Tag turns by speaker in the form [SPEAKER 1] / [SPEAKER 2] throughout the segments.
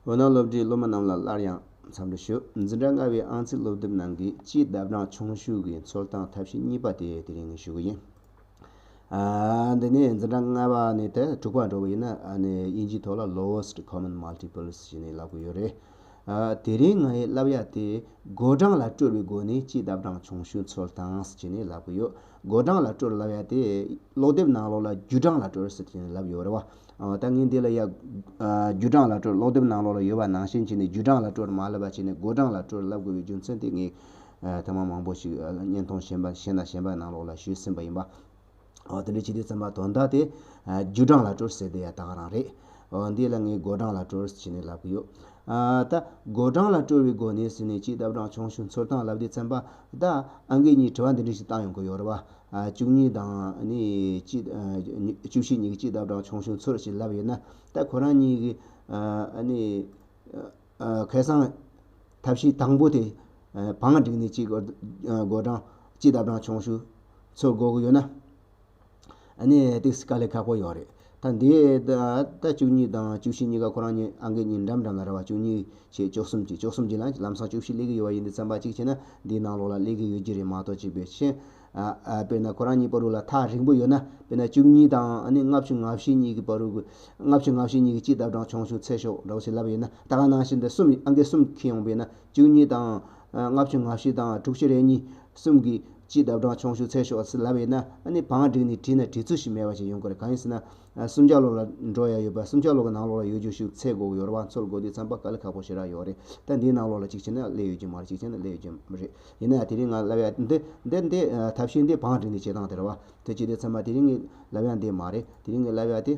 [SPEAKER 1] འོད་སྣང་སློབ་གྲྭའི་སློབ་མ་རྣམས་ལ་སླར་ཡང་འཚམས་འདྲི་ཞུ། འཛིན་གྲྭ་ལྔ་བའི་ཨང་རྩིས་སློབ་དེབ་ནང་གི་སྤྱིའི་ལྡབ་གྲངས་ཆུང་ཤོས་ཀྱི་འཚོལ་སྟངས་ཐབས་ཤེས་གཉིས་པ་དེ་དེ་རིང་ཞུ་གི་ཡིན། འདི་ནི་འཛིན་གྲྭ་ལྔ་བ་ནས་དེ་དྲུག་པ་འགྲོ་གི་ཡིན། དབྱིན་ཇིའི་ཐོག་ལ Lowest Common Multiples ཞེས་ནས་ལབ་གི་ཡོད་རེད། དེ་རིང་ང་ཡི་བསླབ་ཡག་དེ་སྒོ་གྲངས་ལ་སྤྲོད་པའི་སྒོ་ནས་སྤྱིའི་ལྡབ་གྲངས་ཆུང་ཤོས་འཚོལ་སྟངས་ཞེས་ནས་ལབ་གི་ཡོད། སྒོ་གྲངས་ལ་སྤྲོད་ར་ལབ་ཡག་དེ་ཀློག་དེབ་ནང་ལོགས་ལ་རྒྱུ་གྲངས་ལ་སྤྲོད་ར་ཟེར་ཞེས་ནས་ལབ་ཡོད་རེད་བ། ད་ངས་འདི་ལ་ཡག། རྒྱུ་གྲངས་ལ་སྤྲོར་ཀློག་དེབ་ནང་ལོགས་ལ་ཡོད་པ་ནང་བཞིན་བྱས་ནས་རྒྱུ་གྲངས་ལ་སྤྲོར་མ་ལབ་པ་བྱས་ནས་མགོ་གྲངས་ལ་སྤྲོར་ལབ་དགོས་པའི་རྒྱུ་མཚན་དེ་ངས་ཐེངས་མང་མང་པོ་ཞིག་བརྙན་ཐུང་གཞན་པ་གཞན་དང་གཞན་པ་ནང་ལོགས་ལ་ཞུས་ཟིན་པ་ཡིན་པ། དེ་འདྲ་བྱས་དུས་བརྩམས་པ་དོན་དག་དེ། རྒྱུ་གྲངས་ལ་སྤྲོར་ཟེར་དེ་ཡང་དག་རང་རེད། འདི་ལ་ངས་མགོ་གྲངས་ལ་སྤྲོར་བྱས་ནས་ལབ་ཀྱི་ཡོད། ད། མགོ་གྲངས་ལ་སྤྲོར་བའི་སྒོ་ནས་ཟིན་ནས་ཅི་བཏབ་རང་བྱུང་ཞུ་འཚོལ་སྟངས་ལབ་དུས་བརྩམས་པ། ད། ཨ་འགས་གཉིས་དྲི་བ་འདི་འདྲ་ཞིག་བཏང་ཡོང་གི་ཡོད་རེད་བ། བཅུ་གཉིས་དང། བཅུ་བཞི་ཉིག་གཅིག་དག་བྲག་ཆུང་ཆུང་ཚུར་ཞིག་ལབ་ཡོད་ན། ད་ཁོ་རང་གཉིས་ཀྱི། ཁེ་སང། ཐབས་ཤེས་དང་པོ་དེ། བང་སྒྲིག་ནས་གཅིག། སྒོ་སྦྲང། གཅིག་དག་བྲང་ཆུང་ཆུང། ཚུར་འགོག་གི་ཡོད་ན། ཨ་ནི། ཏིག་སི་ཀ་ལས་ཁག་པོ་ཡོད་རེད། ཐང་དེའི་ཟླ་བཅུ་གཉིས་དང་བཅུ་བཞི་གཉིས་ཀ་ཁོ་རང་ཉིད་ཨང་ཀི་ཉིས་འགྲམ་འགྲམ་ལ་ར་བ་བཅུ་གཉིས་ཞེས་བཅུ་གསུམ་གྱིས་བཅུ་གསུམ་གྱིས་ལ་ལམ་སང་བཅུ་བཞི་སླེབས་ཀྱི་ཡོད་པ་ཡིན་འདི་ཙམ་པ་གཅིག་བྱས་ན་འདིའི་ནང་ལོགས་ལ་སླེབས་ཀྱི་ཡོད་ཀྱི་རེད་མ་གཏོགས་གཅིག་པའི་ཕྱིན། དཔེར་ན་ཁོ་རང་ཉིད་པར་རུ་ལ་ཐག་རིང་པོ་ཡོད་ན་དཔེར་ན་བཅུ་གཉིས་དང་ལྔ་བཅུ་ང་བཞི་གཉིས་ཀྱི་པར་རུ་དགོས། ལྔ་བཅུ་ང་བཞི་གཉིས་ཀྱིས་སྤྱི་བདག་བགྲང་ཆོང་ཆུང་ཚད་ཤོག་འདྲ་བོ་ཞིག་ལབ་ཡོད་ན་ད་ག་ནང་བཞིན་དེ་གསུམ་ཨང་ཀི་གསུམ་ཁེལ་ཡོང་པས་ན་བཅུ་གཉིས་དང། ལྔ་བཅུ་ང་བཞི་དང་དྲུག་ཅུ་རེ་གཉིས་གསུམ་གྱི། སྤྱིའི་ལྡབ་གྲངས་ཆུང་ཤོས་ཚད་ཤོས་ལ་བས་ན་ནི་བང་བསྒྲིགས་ནས་བྲིས་ན་བྲིས་ཚུལ་ཞིག་མེད་པ་ཞིག་ཡོང་གི་རེད་གང་ཡིན་ཟེར་ན། སུམ་ཆ་ལོག་ལ་འགྲོ་ཡ་ཡོད་པ་སུམ་ཆ་ལོག་གི་ནང་ལོག་ལ་ཡོད་རྒྱུ་ཞིག་ཚད་དགོས་ཡོད་རེད་བང་ཚོད་དགོས་དུས་ཚན་པ་ག་ལེ་ཁག་པོ་ཞེ་དྲག་ཡོད་རེད་ད་འདིའི་ནང་ལོག་ལ་གཅིག་བྱས་ན་ལེ་ཡོད་རྒྱུ་མ་རེད་གཅིག་བྱས་ན་ལེ་ཡོད་རྒྱུ་མ་རེད་ཡིན་ན་ཡང་དེ་རིང་ང་ལབ་ཡ་འདི་འདི་འདི་ཐབས་ཤེས་འདི་བང་བསྒྲིགས་ནས་བྱེད་སྟངས་དེ་རེད་བ། དེ་བྱས་དུས་ཚད་མ་དེ་རིང་ངས་ལབ་ཡ་འདི་མ་རེད་དེ་རིང་ངས་ལབ་ཡ་དེ།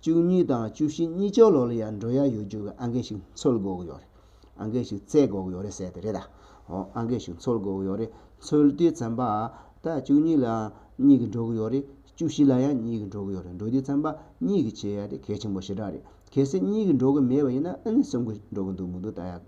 [SPEAKER 1] བཅུ་གཉིས་དང་བཅུ་བཞི་གཉིས་ཅོག་ལོག་ལ་ཡར་འགྲོ་ཡ་ཡོད་རྒྱུ་གི་ཨང་ཀི་ཞིག་འཚོལ་དགོས་གི་ཡོད་རེད། ཨང་ཀི་ཞིག་བཙལ་དགོས་གི་ཡོད་རེད་ཟེར་དེ་རེད་ད། འོ་ཨང་ཀི་ཞིག་འཚོལ་དགོས་གི་ཡོད་རེད་འཚོལ་དུས་བཙན་པ། ད་བཅུ་གཉིས་ལ་ཡང་གཉིས་ཀྱིས་འགྲོ་གི་ཡོད་རེད་བཅུ་བཞི་ལ་ཡང་གཉིས་ཀྱིས་འགྲོ་གི་ཡོད་རེད་འགྲོ་དུས་བཙན་པ་གཉིས་ཀྱིས་བྱེད་ཡ་དེ་གལ་ཆེན་པོ་ཞེ་དྲག་རེད། གལ་སྲིད་གཉིས་ཀྱིས་འགྲོ་གི་མེད་པ་ཡིན་ན་ཨ་ནི་གསུམ་གྱིས་འགྲོ་གི་འདུག་མི་འདུག་ད་ཡ།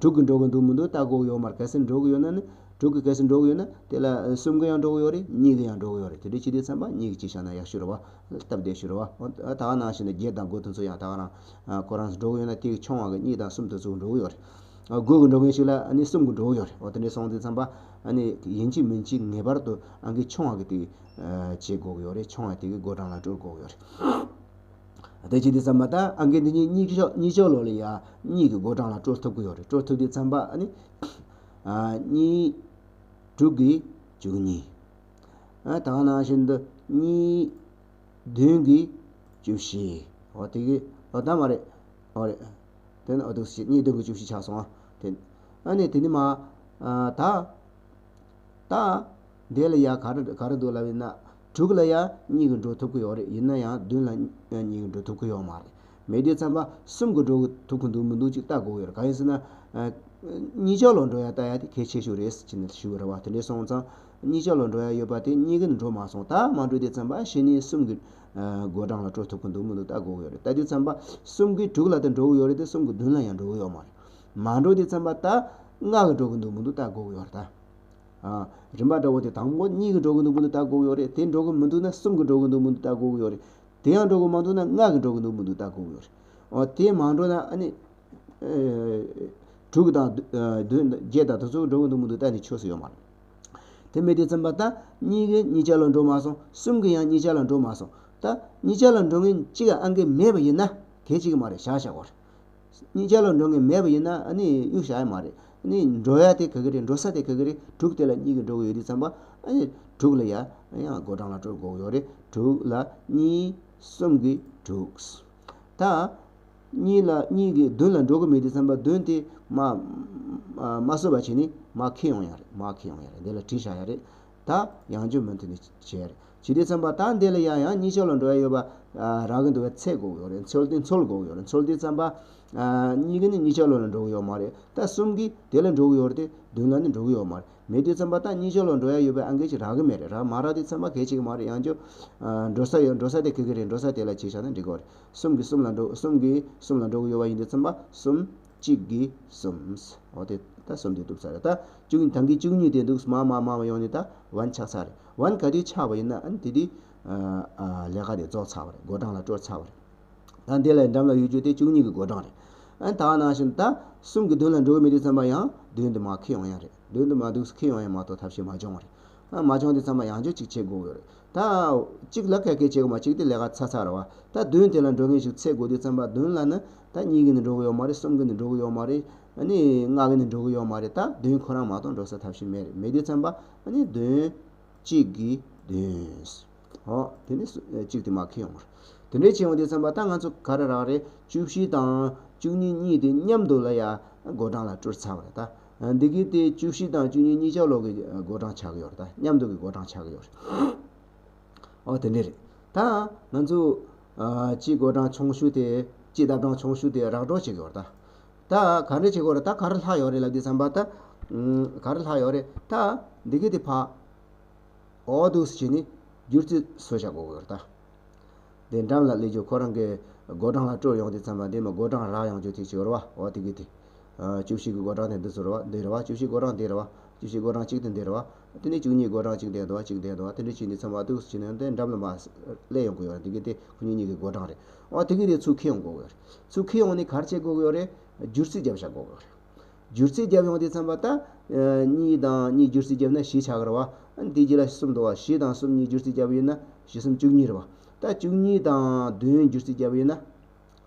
[SPEAKER 1] དྲུག་གིས་འགྲོ་གི་འདུག་མི་འདུག་བལྟ་དགོས་ཡོད་མར་གལ་སྲིད་འགྲོ་གི་ཡོད་ན་ནི། དྲུག་གིས་གལ་སྲིད་འགྲོ་གི་ཡོད་ན། དེ་ལ་གསུམ་གིས་ཡང་འགྲོ་གི་ཡོད་རེད་གཉིས་གིས་ཡང་འགྲོ་གི་ཡོད་རེད་དེ་འདྲའི་སྤྱི་བདེའི་ཚན་པ་གཉིས་ཀྱིས་གཅིག་བཞག་ན་ཡག་ཤོས་རེད་བ། སྟབས་བདེ་ཤོས་རེད་བ། ད་ང་ནང་བཞིན་དུ་བརྒྱད་དང་དགུ་དེ་ཚོ་ཡང་ད་ང་རང། ཁོ་རང་ཚོ་འགྲོ་གི་ཡོད་ན་དེའི་ཆུང་བ་གི་གཉིས་དང་གསུམ་དེ་ཚོ་འགྲོ་གི་ཡོད་རེད། དགུ་གི་འགྲོ་མཁན་ཞིག་ལ་ནི་གསུམ་གི་འགྲོ་གི་ཡོད་རེད་བ། དེ་འདྲའི་སོང་ཚེ་ཚན་པ། ནི་ཡིན་གཅིག་མིན་གཅིག་ངེས་པར་དུ་ཨང་ཀི་ཆུང་བ་གི་དེ། བྱེད་དགོས་ཀྱི་ཡོད་རེད་ཆུང་བ་དེ་གི་སྒོ་བགྲང་ལ་སྤྲོད་དགོས་ཀྱི་ཡོད་རེད། བདེ་སྐྱིད་འདི་ཙམ་མ་ད་ཨང་ཀི་འདི་གཉིས་གཉིས་ཆོག་གཉིས་ཆོག་ལོ་ལི་ཡ་གཉིས་ཀྱི་སྒོ་གྲངས་ལ་སྤྲོ་ཐུབ་ཀྱི་ཡོད་རེད་སྤྲོ་ཐུབ་འདི་ཙམ་པ་ཨ་ནི། གཉིས། དྲུག་གིས་བཅུ་གཉིས། ཨ་ད་ནང་བཞིན་དུ་གཉིས། བདུན་གྱིས་བཅུ་བཞི། ཨོ་དེ་གི་ཨོ་ད་མ་རེད། ཨོ་རེད། དེ་ནི་ཨོ་དུག་གཉིས་བདུན་གྱིས་བཅུ་བཞི་ཆགས་སོང་ཨ་དེ། ཨ་ནི་དེ་ནི་མ། ད། བདག། བདེ་ལ་ཡ་ག་རེ་ག་རེ་འདུག་ལབ་ཡིན་ན། དྲུག་ལ་ཡ་གཉིས་ཀྱིས་འགྲོ་ཐུབ་ཀྱི་ཡོད་རེད་ཡིན་ན་ཡང་བདུན་ལ་ཡ་གཉིས་ཀྱིས་འགྲོ་ཐུབ་ཀྱི་ཡོད་མ་རེད། མེད་དུས་མཚམས་པ་གསུམ་གྱིས་འགྲོ་ཐུབ་ཀྱི་འདུག་མི་འདུག་ཅིག་ལྟ་དགོས་ཀྱི་ཡོད་རེད་གང་ཡིན་ཟེར་ན། གཉིས་ཆ་ལོག་འགྲོ་ཡ་ལྟ་ཡ་དེ་གལ་ཆེ་ཤོས་རེད་ཟེར་གྱི་ནས་ཞུ་གི་རེད་བ་དེ་འདྲས་སོང་ཙང། གཉིས་ཆ་ལོག་འགྲོ་ཡ་ཡོད་པ་དེ་གཉིས་ཀྱིས་འགྲོ་མ་སོང་ད་མ་འགྲོ་དུས་མཚམས་པ་བཞི་གཉིས་གསུམ་གྱིས་དགོད་གྲངས་ལ་སྤྲོ་ཐུབ་ཀྱི་འདུག་མི་འདུག་ལྟ་དགོས་ཀྱི་ཡོད་རེད་ལྟ་དུས་མཚམས་པ་གསུམ་གྱིས་དྲུག་ལ་དེ་འགྲོ་གི་ཡོད་རེད་དེ་གསུམ་གྱིས་བདུན་ལ་ཡང་འགྲོ་གི་ཡོད་མ་རེད། མང་འགྲོ་དེ་ཚན་པ་ད་ལྔ་གི་འགྲོ་གི་འདུག་མི་འདུག་ད་དགུ་གི་ཡོད་རེད་ད། རིམ་པ་འདྲ་བོ་དེ་དང་པོ་གཉིས་གི་འགྲོ་གི་འདུག་མི་འདུག་ད་དགུ་གི་ཡོད་རེད་དེ་འགྲོ་གི་མི་འདུག་ན་གསུམ་གི་འགྲོ་གི་འདུག་མི་འདུག་ད་དགུ་གི་ཡོད་རེད་དེ་ཡང་འགྲོ་གི་མ་འདུག་ན་ལྔ་གི་འགྲོ་གི་འདུག་མི་འདུག་ད་དགུ་གི་ཡོད་རེད། འོ་དེ་མང་འགྲོ་ན་ཨ་ནི། དྲུག་དང། བདུན་དང་བརྒྱད་དང་དེ་ཚོ་འགྲོ་གི་འདུག་མི་འདུག་ད་ནི་ཆོས་སུ་ཡོད་མ་རེད། དེ་མེད་དེ་ཚན་པ་ད་གཉིས་གི་གཉིས་ཆ་ལ་འགྲོ་མ་སོང་གསུམ་གི་ཡང་གཉིས་ཆ་ལ་འགྲོ་མ་སོང་ད་གཉིས་ཆ་ལ་འགྲོ་ངེས་གཅིག་ཨང་ཀི་མེད་པ་ཡིན་ན་དེ་གཅིག་མ་རེད་བཞག་བཞག་གོ་རེད། གཉིས་ཆ་ལ་འགྲོ་ངེས་མེད་པ་ཡིན་ན་ནི་གཡུག་བྱ་ཡ་མ་རེད། ནི་འགྲོ་ཡ་དེ་ག་གི་རེད་འགྲོ་ས་དེ་ག་གི་རེད་དྲུག་དེ་ལ་གཉིས་ཀྱིས་འགྲོ་གི་ཡོད་དུས་བརྩམས་པ། ནི་དྲུག་ལ་ཡ། ཡང་སྒོ་བགྲང་ལ་སྤྲོད་དགོས་ཀྱི་ཡོད་རེད་དྲུག་ལ་གཉིས། གསུམ་གྱིས་དྲུག། ད། གཉིས་ལ་གཉིས་ཀྱིས་བདུན་ལ་འགྲོ་གི་མེད་དུས་བརྩམས་པ་བདུན་དེ། མ། མ་བཟོད་པ་བྱས་ནི་མ་ཁེ་ཡོང་ཡ་རེད་མ་ཁེ་ཡོང་ཡ་རེད་འདི་ལ་བྲིས་བཞག་ཡ་རེད། ད། ཡང་འཇུག་མི་མཐུན་ནི་བྱས་ཡ་རེད། ཇི་སྟེ་ཚན་པ་དག་འདི་ལ་ཡང་ཡང་གཉིས་ཆ་ལ་འགྲོ་ཡ་ཡོད་པ་རག་གི་འདུག་བས་ཚད་གོ་གི་རེད་ཚོལ་ཏེ་འཚོལ་གོ་གི་རེད་ཚོལ་ཏེ་ཚན་པ་གཉིས་ཀ་ནི་གཉིས་ཆ་ལོ་ལ་འགྲོ་གི་ཡོད་མ་རེད་ད་གསུམ་གིས་དེ་ལ་འགྲོ་གི་ཡོད་རེད་དེ་བདུན་ལ་ནི་འགྲོ་གི་ཡོད་མ་རེད་མེད་དུས་ཚན་པ་དག་གཉིས་ཆ་ལ་འགྲོ་ཡ་ཡོད་པའི་ཨང་ཀི་ཞིག་རག་གི་མེད་རེད་རག་མ་རག་དུས་ཚན་པ་གལ་ཆེ་གི་མ་རེད་ཡང་བསྐྱོད་འགྲོ་ས་ཡོད་འགྲོ་ས་དེ་གི་གི་རེད་འགྲོ་ས་དེ་ལ་གཅིག་ཆ་ན་འགྲིག་གོ་རེད་གསུམ་གིས་གསུམ་ལ་འགྲོ་གསུམ་གིས་གསུམ་ལ་འགྲོ་གི་ཡོད་པ་ཡིན་དུས་ཚན་པ་གསུམ་གཅིག་གིས་གསུམ། འོ་དེ་ད་གསུམ་དེ་འདུག་ཚར་རེད་ད། བཅུ་གཉིས་དང་གིས་བཅུ་གཉིས་དེ་འདུག་སྨ་མ་སྨ་མ་ཡོང་ནས་ད་བན་ཆགས་ཚར་རེད། བན་ག་དེ་ཆགས་པ་ཡིན་ན་ཨན་དེ་དེ། ལས་ཀ་དེ་རྫོགས་ཚར་བ་རེད་སྒོ་འགྲམ་ལ་སྤྲོད་ཚར་བ་རེད། ད་འདི་ལས་འགྲམ་ལ་ཡོད་རྒྱུ་དེ་བཅུ་གཉིས་ཀྱི་སྒོ་འགྲམ་རེད། ཨན་ད་ནང་བཞིན་ད་གསུམ་གྱི་མདུན་ལ་འགྲོ་གི་མི་དེ་ཚང་མ་ཡང་མདུན་དུ་མ་ཁེལ་ཡོང་ཡ་རེད། མདུན་དུ་མ་འདུག་ས་ཁེལ་ཡོང་ཡ་མ་གཏོགས་ཐབས་ཤེས་མ་བྱུང་བ་རེད། ཨན་མ་བྱུང་དེ་ཚང་མ་ཡང་སྦྱོར་ཅིག་བྱེད་དགོས་ཡོད་རེད། ད། གཅིག་ལ་ཁ་སྐད་བྱེད་དགོས་མ་གཅིག་དེ་ལས་ཀ་ཚར་ཚར་བ། ད་མདུན་དེ་ལ་འགྲོ་མཁན་ཞིག་ཚེ་དགོས་དུས་ཚང་མ་མདུན་ལ་ནི་ད་གཉིས་ཀྱིས་ནི་འགྲོ་གི་ཡོད་མ་རེད་གསུམ་གྱིས་ནི་འགྲོ་གི་ཡོད་མ་རེད། ནི་ལྔ་གིས་ནི་འགྲོ་གི་ཡོད་མ་རེད་ད་བདུན་ཁོ་རང་མ་གཏོགས་འགྲོ་ས་ཐབས་ཤིག་མེད་རེད་མེད་དུས་མཚན་པ། ནི་བདུན། གཅིག་གིས་བདུན། ཨོ། དེ་ནི་གཅིག་དེ་མ་ཁེལ་ཡོང། དེ་འདྲའི་བྱས་འོང་དུས་མཚན་པ་ད་ང་ཚོ་ག་རེ་རག་རེད་བཅུ་བཞི་དང། བཅུ་གཉིས་གཉིས་དེ་མཉམ་འདུག་ལ་ཡ། སྒོ་འགྲམ་ལ་བཀྲུར་ཚར་བ་རེད་ད། འདི་གིས་དེ་བཅུ་བཞི་དང་བཅུ་གཉིས་གཉིས་ཆ་ལོག་གི་སྒོ་འགྲམ་ཆགས་ཀྱི་ཡོད་རེད་ད་མཉམ་འདུག་གི་སྒོ་འགྲམ་ཆགས་ཀྱི་ཡོད་རེད། ཨོ་དེ་འདྲས་རེད་ད། ང་ཚོ། སྤྱི་སྒོ་སྦྲང་ཆུང་བཤུས་ཏེ། སྤྱི་ལྟར་སྦྲང་ཆུང་བཤུས་ཏེ་རག་སྒྲོག་བྱེད་དགོས་རེད་ད། ད་ག་འདྲས་བྱེད་དགོས་རེད་ད་ག་རེ་ལྷག་ཡོད་རེད་ལབ་དུས་བསམ་པ་ད། ག་རེ་ལྷག་ཡོད་རེད་ད། འདི་གི་དེ་ཕག། ཨོ་དུག་སུ་བྱས་ནས། བསྒྱུར་རྩིས་སུ་བྱ་དགོས་རེད་ད། དེ་འགྲམ་ལ་སླེབས་རྗེས་ཁོ་རང་གི། སྒོ་སྦྲང་ལ་བཀྲོལ་ཡོང་དུས་བསམ་པ་འདི་མ་སྒོ་སྦྲང་རག་ཡོང་ཆོག་ཐིག་ཆིག་རེད་བ་ཨོ་དེ་གི་དེ། བཅུ་བཞི་གི་སྒོ་སྦྲང་དེ་འདི་སུ་རེད་བ་འདི་རེད་བ་བཅུ་བཞི་སྒོ་སྦྲང་འདི་རེད་བ། བཅུ་བཞི་སྒོ་སྦྲང་གཅིག་དེ་འདི་རེད་བ། དེ་ནས་བཅུ་གཉིས་སྒོ་གྲངས་གཅིག་འདེད་དོ་གཅིག་འདེད་དོ་དེ་འདྲ་བྱས་ནས་ཚང་མ་ཐུགས་སུ་བྱིན་ནས་འགྲམ་ལ་མ་སླེབས་ཡོང་གི་ཡོད་རེད་དེ་གི་དེ་ཁོ་གཉིས་གཉིས་ཀྱི་སྒོ་གྲངས་རེད། འོ་དེ་གི་རེད་ཚུར་ཁས་ཡོང་དགོས་གི་ཡོད་རེད། ཚུར་ཁས་ཡོང་ནས་གར་བྱེད་དགོས་གི་ཡོད་རེད། བསྒྱུར་རྩིས་བརྒྱབ་བཞག་དགོས་གི་ཡོད་རེད། བསྒྱུར་རྩིས་བརྒྱབ་ཡོང་དེ་ཚང་པ་ད། གཉིས་དང་གཉིས་བསྒྱུར་རྩིས་བརྒྱབ་ན་བཞི་ཆགས་གི་རེད་བ། དེ་རྗེས་ལ་གསུམ་འདུག་བ་བཞི་དང་གསུམ་གཉིས་བསྒྱུར་རྩིས་བརྒྱབ་ཡོད་ན་བཞི་གསུམ་བཅུ་གཉིས་རེད་བ། ད་བཅུ་གཉིས་དང་བདུན་བསྒྱུར་རྩིས་བརྒྱབ་ཡོད་ན།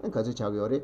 [SPEAKER 1] ག་ཚོད་ཆགས་གི་ཡོད་རེད།